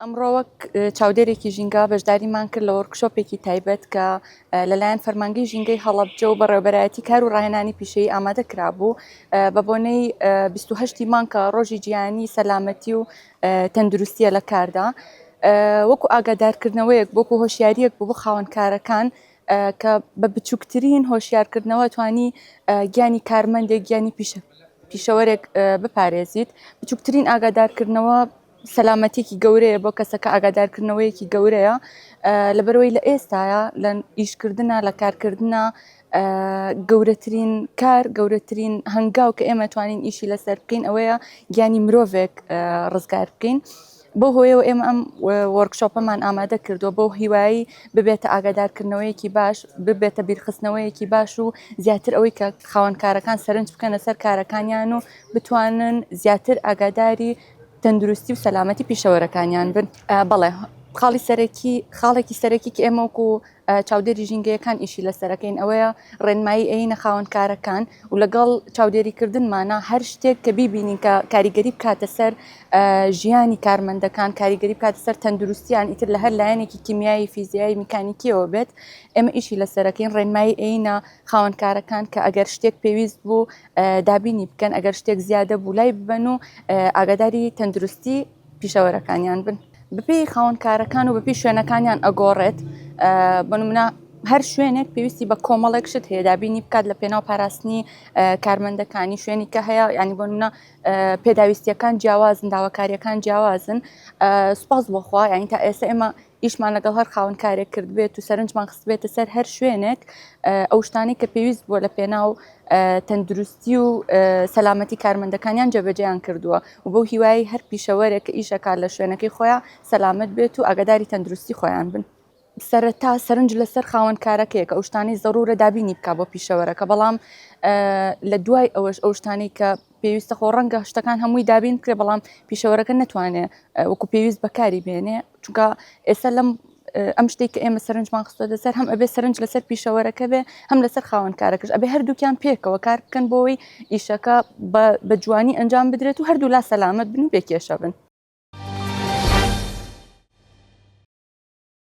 ئەمڕۆ وەک چاودێرێکی ژینگە بەشداریمان کرد لە وەرکشۆپێکی تایبەت کە لەلایەن فەرمانگەی ژینگەی هەڵەبجە و بەڕێوبەرایەتی کار و ڕاهێنانی پیشەی ئامادە کرابوو بە بۆنەی 28 مانکە ڕۆژی جیهانی سەلامەتی و تەندروستیە لە کاردا وەکو ئاگادارکردنەوەیەک بۆکو هۆشیاریەک بۆ بۆ خاوەنکارەکان کە بە بچووکترین هۆشیارکردنەوە توانی گیانی کارمەندێک گیانی پیشە پیشەوەرێک بپارێزیت بچووکترین ئاگادارکردنەوە سەلامەتیەکی گەورەیە بۆ کەسەکە ئاگادارکردنەوەیەکی گەورەیە لەبەرەوەی لە ئێستاە لە ئیشکردە لە کارکردە گەورەترین کار گەورەترین هەنگاو کە ئێمە توانین ئیشی لەسەر بکەین ئەوەیە گیانی مرۆڤێک ڕزگار بکەین. بۆ هۆیەوە ئێمە ئەم وەرکشۆپەمان ئامادە کردووە بۆ هیوایی ببێتە ئاگادارکردنەوەیەکی باش ببێتە بیرخستنەوەیەکی باش و زیاتر ئەوەی کە خاوەنکارەکان سەرنج بکەنە سەر کارەکانیان و بتوانن زیاتر ئاگاداری تەندروستی و سەلامەتی پیشەوەرەکانیان بن بەڵێ خاڵی سەرەکی خاڵێکی سەرەکی کە ئێمە وکو چاودێری ژینگەیەکان ئیشی لەسەرەکەین ئەوەیە ڕێنمایی ئەینە خاوەنکارەکان و لەگەڵ چاودێریکردنمانە هەر شتێک کە بیبینین کە کاریگەری بکاتە سەر ژیانی کارمەندەکان کاریگەری بکات سەر تەندروستیان ئیتر لە هەر لایەنێکی کیمیایی فیزیایی میکانیکیەوە بێت ئێمە ئیشی لەسەرەکەین ڕێنمایی ئەینە خاوەنکارەکان کە ئەگەر شتێک پێویست بوو دابینی بکەن ئەگەر شتێک زیادە بوو لای ببەن و ئاگاداری تەندروستی پیشەوەرەکانیان بن بپی خاونکارەکان و بەپی شوێنەکانیان ئەگۆڕێت بنمنا هەر شوێنێک پێویستی بە کۆمەڵێک شت هەیە دابینی بکات لە پێناو پاراستنی کارمەندەکانی شوێنی کە هەیە ینی بۆ منە پێداویستیەکان جیاوازن داواکاریەکان جیاوازن سپاس بۆخوا یعنی تا ئێستا ئێمە ئیشمان لەگەڵ هەر خاوەن کارێک کردبێت و سەرنجمان خستبێتە سەر هەر شوێنێک ئەو شتانی کە پێویست بووە لە پێناو تەندروستی و سەلامەتی کارمەندەکانیان جێبەجیان کردووە و بۆ هیوای هەر پیشەوەرێک کە ئیشەکە لە شوێنەکەی خۆیان سەلامت بێت و ئەگەداری تەندروستی خۆیان بن. سەرەتا سەرنج لەسەر خاوەن کارەکەیە کە ئەوشتانی زەڕورە دابینی بک بۆ پیشەوەرەکە بەڵام لە دوای ئەوەش ئەوشتانی کە پێویستە خۆ ڕەنگە شتەکان هەمووی دابین کرێ بەڵام پیشەوەرەکە نتوانێت وەکو پێویست بەکاری بێنێ چونکە ئێستا لەم ئەم شتێک کە ئێمە سەرنجمان خستۆتە سەر هەم ئەبێ سەرنج لەسەر پیشەوەرەکە بێ هەم لەسەر خاوەنکارەکەش ئەبێ هەردووکیان پێکەوە کار بکەن بۆەوەی ئیشەکە بە جوانی ئەنجام بدرێت و هەردوو لا سەلامت بن و بێکێشە بن